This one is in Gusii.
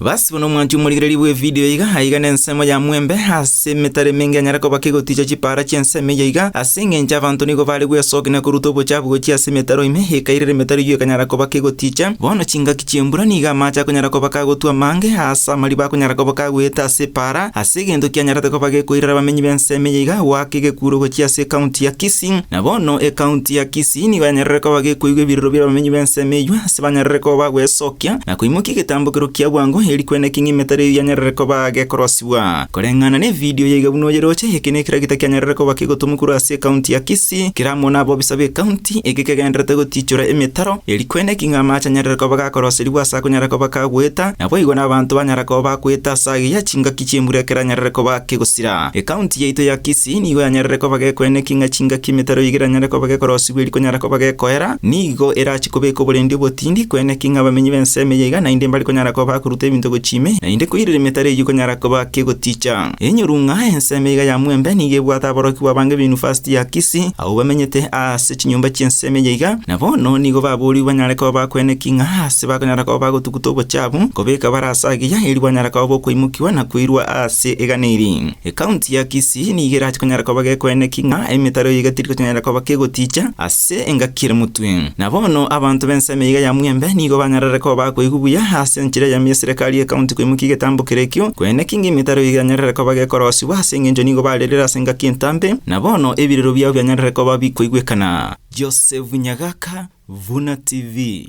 Basi bono omwancho omorigereria bw'evidio iga aiga nensemo ya mwembe ase emetaro emenge anyare koba kegoticha chipaara chi'ensemo eyio iga ase engencho abanto nigo bare gwesoki na koruta obochafu gochia ase emetaro ime ekairera emetaro eyio ekanyara koba kegoticha. Bono chingaki chi'embura nigo amache akonyara koba kagotwa amange aase amariba akonyara koba kagweete ase epaara ase egento kianyarete koba gekoirera abamenyi b'ensemo eyio iga goaka egekuuro gochia ase ekaunti ya Kisii. Kisii. Na bono ecounty ya Kisii nigo yanyarire koba gekoigwa ebiroro bi'abamenyi b'ensemo eyio, ase banyarire koba bagwesokia, na koimokia egetambokero kia bwango, eeri kwene ekeng'ima etari eyio yanyarire koba gekorosibwa. Koreng'ana nevidio yaiga buna oyeroche, eke nekeragita kianyarire koba kegotomwa korwa ase ecounty ya Kisii, kera amo nabobisa b'ecounty, eke kegendererete gotiichora emetaro, eeri kwene ekeng'ima amache anyarire koba gakoroserigwa ase akonyara koba kagoeta, naboigo nabaanto banyara koba bakoeta ase ageyia chingaki chi'embura ekero anyarire koba kegosira. Ecounty yaito ya Kisii. Tinigo yanyarire koba gekoena eking'a chingaki emetaro ye igere anyare koba gekorosibwa eri konyara koba gekoera, nigo erache kobeka oborendi obotindi koena eking'a abamenyi b'ensemo eye iga naende mbare konyara koba akoruta ebinto gochia ime, naende koirera emetaro eyio konyara koba kegoticha. Enyorung'a, ensemo iga ya Mwembe nigo ebwate aborokigwa abange b'Yunivasiti ya Kisii, abwo bamenyete aase chinyomba chi'ensemo eye iga, na bono nigo baboorigwe banyare koba bakoena eking'a aase bakonyara koba bagotuguta obochabu, kobeka bare ase agiya eri bwanyara koba bokwaimokigwa na koirwa aase egana eri. Ekaunti ya Kisii nigo erache konyara koba gekoeneka ing'a emetaro eye iga teri konyara koba kegoticha ase engaki ere motwe. Na bono abanto b'ensemo eyio ya Mwembe nigo banyarare koba akoigwa buya ase enchera eyemo y'eserekari y'ekaunti koimokia egetambo kere ekio koeneka ing'a emetaro eye yanyarare koba gekorosiwa ase engencho nigo barerire ase engaki entambe na bono ebirero biabo bianyarare koba bikoigwekana. Joseph Nyagaka, Vuna TV.